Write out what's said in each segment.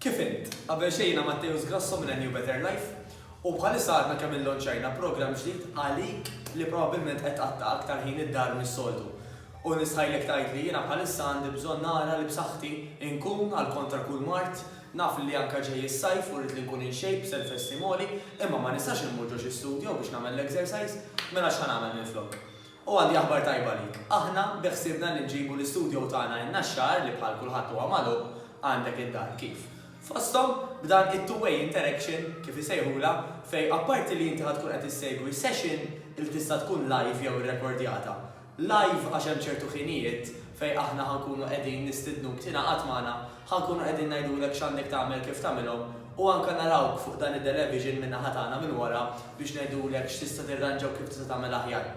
Kif int? Qabel xejn jiena Matteus Grasso minn A New Better Life u bħalissa għadna kemm illonċajna programm ġdid għalik li probabbilment qed tqatta' aktar ħin id-dar mis-soltu. U nistħajlek tgħid li jiena bħalissa għandi bżonn nara li b'saħħti inkun għal kontra kull mard, naf li anke ġej is-sajf u rrid li nkun in shape, self esteem għoli, imma ma nistax immur ġo xi studio biex nagħmel l-exercise, mela x'ħa nagħmel minflok? U għandi aħbar tajba għalik. Aħna beħsiebna li nġibu l-istudio tagħna in-Naxxar li bħal kulħadd huwa magħluq, għandek id-dar kif. Fosthom, b'dan it-two way interaction, kif isejħulha, fejn apparti li inti ħa tkun qed issegwi session li tista' tkun live jew irrekordjata. Live għax hemm ċertu ħinijiet fejn aħna ħa nkunu qegħdin nistidnuk tingħaqad magħna Ħa nkunu qegħdin ngħidulek x'għandek tagħmel kif tagħmilhom u anke narawk fuq dan id-delevision min-naħa tagħna minn wara biex ngħidulek x'tista' tirranġa u kif tista' tagħmel aħjar.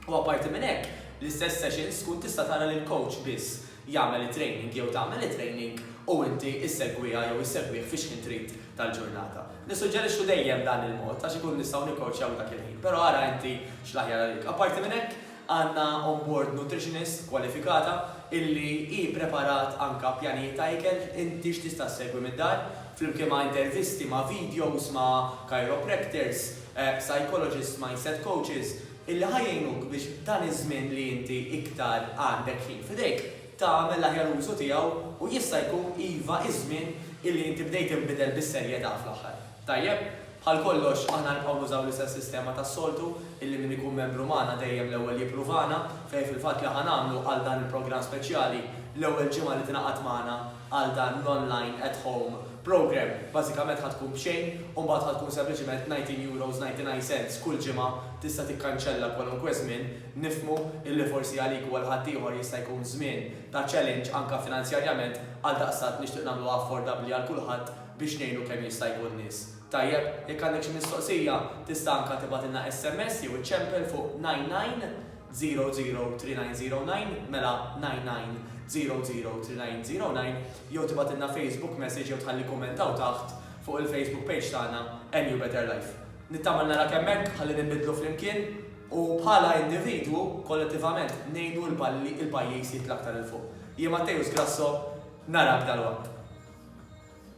U apparti minn hekk, l-istess sessions tkun tista' tara li l-coach biss jagħmel it-training jew tagħmel it-training u inti issegwiha jew issegwih fi xħin trid tal-ġurnata. Nissuġġerixxu dejjem dan il-mod għax inkunu nistgħu nikkowċjaw dak il-ħin, però ara inti x'l-aħjar għalik. Apparti minn hekk, Għandna on board nutritionist kwalifikata illi hi ppreparat anke pjanijiet ta' ikel inti x'tista' ssegwi mid-dar, flimkien ma' intervisti, ma' videos ma' chiropractors, psychologists, mindset coaches, illi ħa jgħinuk biex dan iż-żmien li inti iktar għandek ħin f'idejk, tagħmel l-aħjar użu tiegħu u jista' jkun iva iż-żmien illi inti bdejt tinbidel bis-serjetà fl-aħħar. Tajjeb? Bħal kollox, aħna nibqgħu nużaw l-istess sistema tas-soltu, illi min ikun membru magħna dejjem l-ewwel jippruvana, fejn fil-fatt li ħa nagħmlu għal dan il-programm speċjali, l-ewwel ġimgħa li tingħaqad magħna għal dan l-online at home programme, bażikament ħa tkun b'xejn u mbagħad ħa tkun sempliċiment €19.99 kull ġimgħa, tista' tikkanċella kwalunkwe żmien, nifhmu illi forsi għalik u għal ħaddieħor jista' jkun żmien ta' challenge anke finanzjarjament, għaldaqstant nixtieq nagħmluha affordabbli għal kulħadd, biex ngħinu kemm jista' jkun nies. Tajjeb, jekk għandek xi mistoqsija tista' anka tibgħatilna sms jew iċċempel fuq 99003909, mela 99003909, jew tibgħatilna Facebook message jew tħalli kumment hawn taħt fuq il-Facebook page tagħna NU Better Life. Nittama li narak hemmhekk ħalli ninbidlu flimkien u bħala individwu, kollettivament, ngħinu l-pajjiż jitla' aktar 'il fuq. Jien Matteus Grasso, narak dalwaqt.